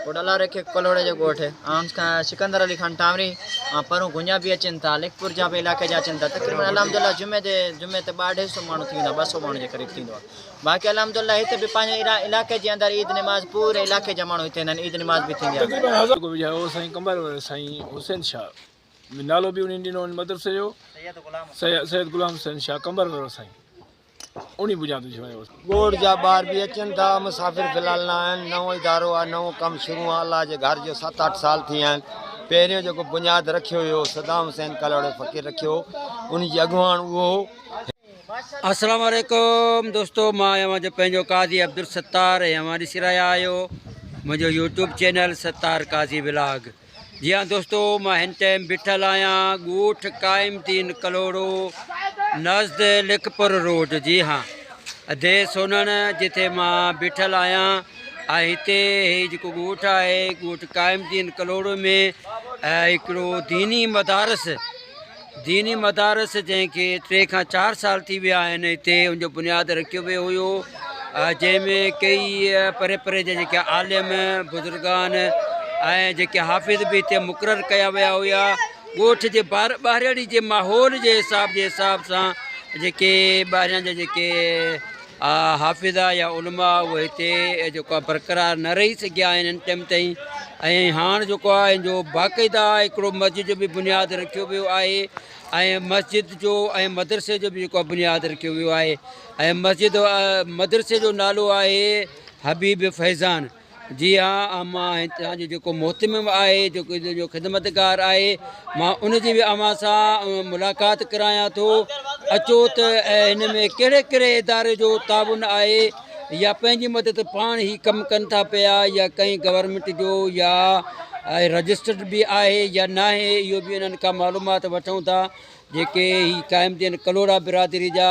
گوڏالا رکيڪ ڪلهوڙي جي ڳوٺ آهونس کان سڪندر علي خان ٽانوري ۽ پرون گونيا به اچن ٿا لکپور جا به علائقي جا اچن ٿا تقريبن الحمد الله جمعي تي جمعي تي ٻه اڍائي سو ماڻهو ٿي ويندا ٻه سو ماڻهو جي قريب ٿيندو آهي باقي الحمد الله هت به پنهنجي علائقي جي اندر عيد نماز پوري علائقي جا ماڻهو هتي انهن عيد نماز به ٿيندي آهي سائين قمر سائين حسين شاهه نالو به انهن ڏنو مدرسي جو سيد غلام حسين شاهه قمر وارو سائين ڳوٺ جا ٻار به اچن ٿا، مسافر في الحال نه آهن، نئون ادارو آهي، نئون ڪم شروع آهي، الله جي گهر جو ست اٺ سال ٿي ويا آهن، پهريون جيڪو بنياد رکيو ويو هو، صدام حسين ڪلهوڙي فقير رکيو هو، ان جي اڳواڻ اهو هو. السلام عليڪم دوستو مان اوهان جو پنهنجو قاضي عبدالستار ۽ اوهان ڏسي رهيا آهيو منهنجو YouTube channel Sattar Qazi vlog جي ها دوستو مان هن ٽائيم بيٺل آهيان ڳوٺ قائم الدين ڪلهوڙو نزد لکپور روڊ جي ها ادي سونڻ جتي مان بيٺل آهيان ۽ هتي هي جيڪو ڳوٺ آهي ڳوٺ قائم الدين ڪلهوڙو ۾ هڪڙو ديني مدارس ديني مدارس جنهن کي ٽي کان چار سال ٿي ويا آهن هتي ان جو بنياد رکيو ويو هيو جنهن ۾ ڪيئي پري پري جا جيڪي عالم بزرگان ۽ جيڪي حافظ به هتي مقرر ڪيا ويا هيا ڳوٺ جي ٻار ٻارڙي جي ماحول جي حساب جي حساب سان جيڪي ٻاريان جا جيڪي اها حافظه يا علماء اهي هتي جيڪو آهي برقرار نه رهي سگهيا آهن هن ٽيم تائين ۽ هاڻ جيڪو آهي ان جو باقاعده هڪڙو مسجد جو به بنياد رکيو ويو آهي ۽ مسجد جو ۽ مدرسي جو به جيڪو آهي بنياد رکيو ويو آهي ۽ مسجد مدرسي جو نالو آهي حبيب فيضان جي ها امان هتان جو جيڪو محتمم آهي جيڪو ان جو خدمتگار آهي مان ان جي به اوهان سان ملاقات ڪرايان ٿو اچو ته هن ۾ ڪهڙي ڪهڙي اداري جو تعاون آهي يا پنهنجي مدد پاڻ هي ڪم ڪن ٿا پيا يا ڪئين گورنمنٽ جو يا رجسٽرڊ به آهي يا نه آهي اهو به انهن کان معلومات وٺون ٿا جيڪي هي قائم دين ڪلوڙا برادري جا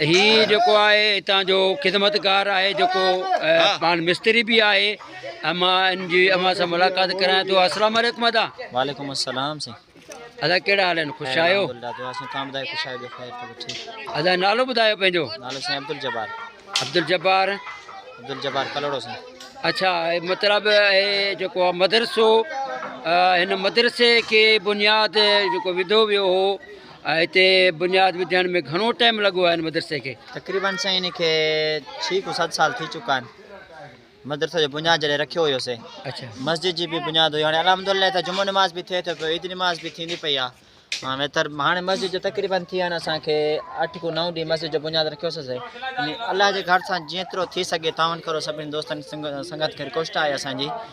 هي جيڪو آهي هتان جو خدمتگار آهي جيڪو پاڻ مستري به آهي امان ان جي امان سان ملاقات ڪرايان ٿو السلام عليڪم ادا وعليڪم السلام سي ادا ڪهڙا حال آهن خوش آهيو ادا نالو ٻڌايو پنهنجو نالو سي عبد الجبار عبد الجبار عبد الجبار کلوڙو سي اچھا مطلب اهي جيڪو مدرسو هن مدرسي کي بنياد جيڪو وڌو ويو هو ۽ هتي بنياد وڌائڻ ۾ گهڻو ٽائيم لڳو آهي هن مدرسي کي. تقريبن سائين ان کي ڇهه کان ست سال ٿي چڪا آهن مدرسي جو بنياد جڏهن رکيو هيو سي مسجد جي به بنياد هئي هاڻي الحمد الله هتي جمعو نماز به ٿئي ٿو پيو عيد نماز به ٿيندي پئي آهي ويتر هاڻي مسجد جو تقريبن ٿي ويا آهن اسان کي اٺ کان نو ڏينهن مسجد جو بنياد رکيو سي سائين الله جي گهر سان جيترو ٿي سگهي تعاون ڪرو سڀني دوستن سنگت کي رڪويسٽ آهي اسان جي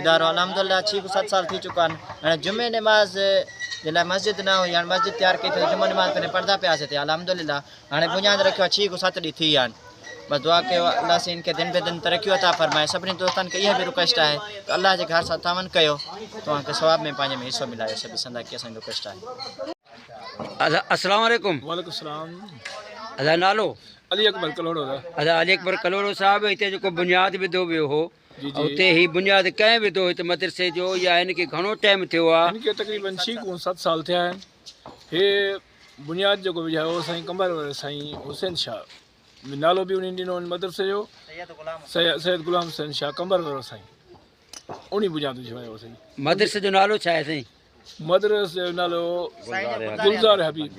ادارو الحمدالله ڇهه کان ست سال ٿي چڪا آهن هاڻي جمعي نماز جي لاء مسجد نه هئي هاڻي مسجد تيار ڪئي ٿي جمعي نماز پنهنجا پردا پيا سيتيا الحمدالله هاڻي بنياد رکيو آهي ڇهه کان ست ڏينهن ٿي ويا آهن بس دعا ڪيو الله سين کي دن به دن ترقيون عطا فرمائي سڀني دوستن کي اها به رڪويسٽ آهي ته الله جي گهر سان تعاون ڪيو توهان کي ثواب ۾ پنهنجي ۾ حصو ملايو سڀ سندا کي اسان جي رڪويسٽ آهي السلام عليڪم وعليڪم السلام ادا نالو علي اڪبر کلوڙو ادا علي اڪبر کلوڙو صاحب هتي جيڪو بنياد وڌو ويو هو اتي هي بنياد ڪنهن وڌو هت مدرسي جو يا هن کي گهڻو ٽيم ٿيو آ. هن کي تقريبن ڇهه ڪون ست سال ٿيا آهن. هي بنياد جيڪو وجهايو هو سائين قمبر واري سائين حسين شاهه به نالو به انهي ڏنو هن مدرسي جو سيد غلام حسين شاهه قمبر وارو سائين انهي بنياد وجهايو هو سائين. مدرسي جو نالو ڇا آهي سائين؟ مدرس جو نالو گلزار حبيب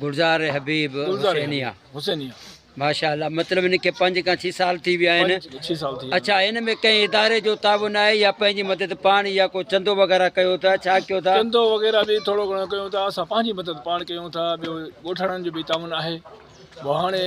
گلزار حبيب حسينيا حسينيا ماشاء الله مطلب ان کي پنج کان چھ سال تھی ويا آھن چھ سال تھی اچھا ان ۾ ڪنهن اداري جو تعاون آهي يا پنهنجي مدد پاڻ يا ڪو چندو وغيرها ڪيو ٿا ڇا ڪيو ٿا چندو وغيرها به ٿورو گھڻو ڪيو ٿا اسان پنهنجي مدد پاڻ ڪيو ٿا ٻيو ڳوٺاڻن جو به تعاون آهي هاڻي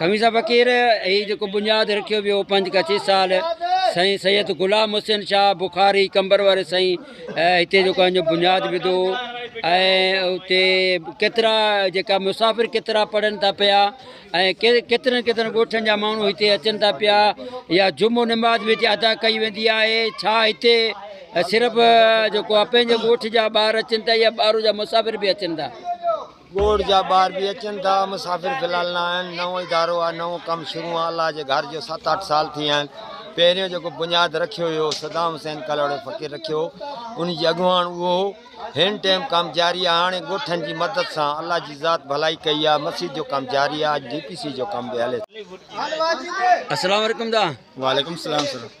خميسه فقير هي جيڪو بنياد رکيو ويو پنج کا ڇهه سال سائين سيد غلام حسين شاهه بخاري قمبر واري سائين هتي جيڪو آهن جو بنياد وڌو ۽ اتي ڪيترا جيڪا مسافر ڪيترا پڙهن ٿا پيا ۽ ڪيترن ڪيترن ڳوٺن جا ماڻهو هتي اچن ٿا پيا يا جمعو نماز به هتي ادا ڪئي ويندي آهي ڇا هتي صرف جيڪو آهي پنهنجي ڳوٺ جا ٻار اچن ٿا يا ٻاهر جا مسافر به اچن ٿا ڳوٺ جا ٻار به اچن ٿا مسافر في الحال نه آهن نئون ادارو آهي نئون ڪم شروع آهي الله جي گهر جو ست اٺ سال ٿي ويا آهن پهريون جيڪو بنياد رکيو ويو هو صدام حسين ڪلهوڙي فقير رکيو هو ان جي اڳواڻ اهو هو هن ٽيم ڪم جاري آهي هاڻي ڳوٺن جي مدد سان الله جي ذات ڀلائي ڪئي آهي مسجد جو ڪم جاري آهي اڄ ڊي پي سي جو ڪم به هلي ٿو السلام عليڪم دا وعليڪم السلام سر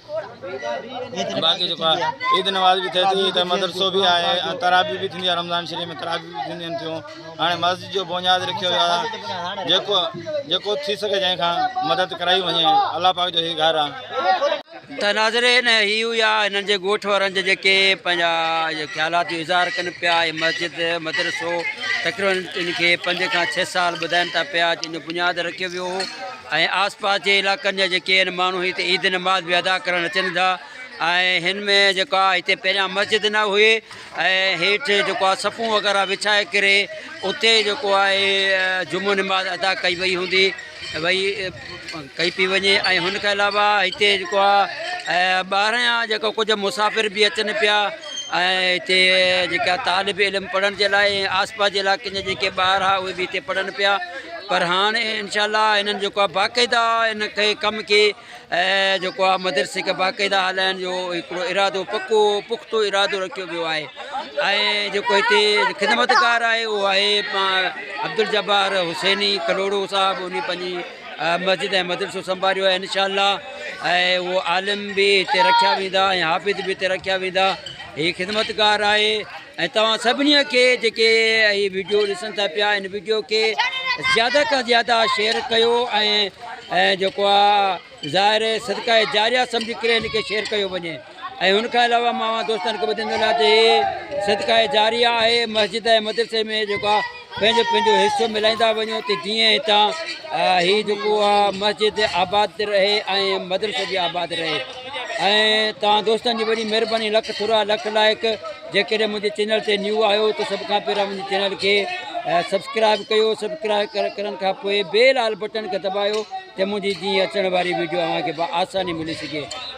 باقي جيڪو آهي عيد نماز به ٿئي ٿي ته مدرسو به آهي ۽ تراويح به ٿيندي آهي رمضان شريف ۾ تراويح به ٿينديون ٿيون هاڻي مسجد جو بنياد رکيو ويو آهي جيڪو جيڪو ٿي سگهي جنهن کان مدد ڪرائي وڃي الله پاڪ جو هي گهر آهي ته ناظرين هي هيا هنن جي ڳوٺ وارن جي جيڪي پنهنجا خيالات جو اظهار ڪن پيا هي مسجد مدرسو تقريبن ان کي پنج کان ڇهه سال ٻڌائن ٿا پيا جن جو بنياد رکيو ويو هو ۽ آس پاس جي علاقن جا جيڪي ان ماڻهو هتي عيد نماز به ادا ڪرڻ اچن ٿا ۽ هن ۾ جيڪو آهي هتي پهريان مسجد نه هئي ۽ هيٺ جيڪو آهي صفون وغيره وڇائي ڪري اتي جيڪو آهي جمعو نماز ادا ڪئي وئي هوندي وئي ڪئي پي وڃي ۽ هن کان علاوه هتي جيڪو آهي ٻاهريان جيڪو ڪجهه مسافر به اچن پيا ۽ هتي جيڪا طالب علم پڙهڻ جي لاء ۽ آس پاس جي علاقن جا جيڪي ٻار هئا اهي به هتي پڙهن پيا پر هاڻ انشاء الله هنن جيڪو آهي باقاعده ان کي ڪم کي جيڪو آهي مدرسي کي باقاعده هلائڻ جو هڪڙو ارادو پڪو پختو ارادو رکيو ويو آهي ۽ جيڪو هتي خدمتگار آهي اهو آهي عبدالجبار حسيني ڪلوڙو صاحب ان پنهنجي مسجد ۽ مدرسو سنڀاريو آهي انشاء الله ۽ اهو عالم به هتي رکيا ويندا ۽ حافظ به هتي رکيا ويندا هي خدمتگار آهي ۽ توهان سڀني کي جيڪي هي ويڊيو ڏسن ٿا پيا ان ويڊيو کي زياده کان زياده شيئر ڪيو ۽ جيڪو آهي ظاهر صدقه جاريه سمجهي ڪري ان کي شيئر ڪيو وڃي ۽ ان کان علاوه مان اوهان دوستن کي ٻڌائيندو وڃان ته هي صدقه جاريه آهي مسجد ۽ مدرسي ۾ جيڪو آ پنهنجو پنهنجو حصو ملائيندا وڃو ته جيئن هتان هي جيڪو آ مسجد آباد رهي ۽ مدرسو به آباد رهي ۽ توهان دوستن جي وڏي مهرباني لک ٿورا لک لائق جيڪڏهن منهنجي چينل تي نيو آهيو ته سڀ کان پهريان منهنجي چينل کي سبسڪرائب ڪيو سبسڪرائب ڪرڻ کان پوء بيل آل بٽن کي دٻايو ته منهنجي جيئن اچڻ واري ويڊيو اوهان کي آساني ملي سگهي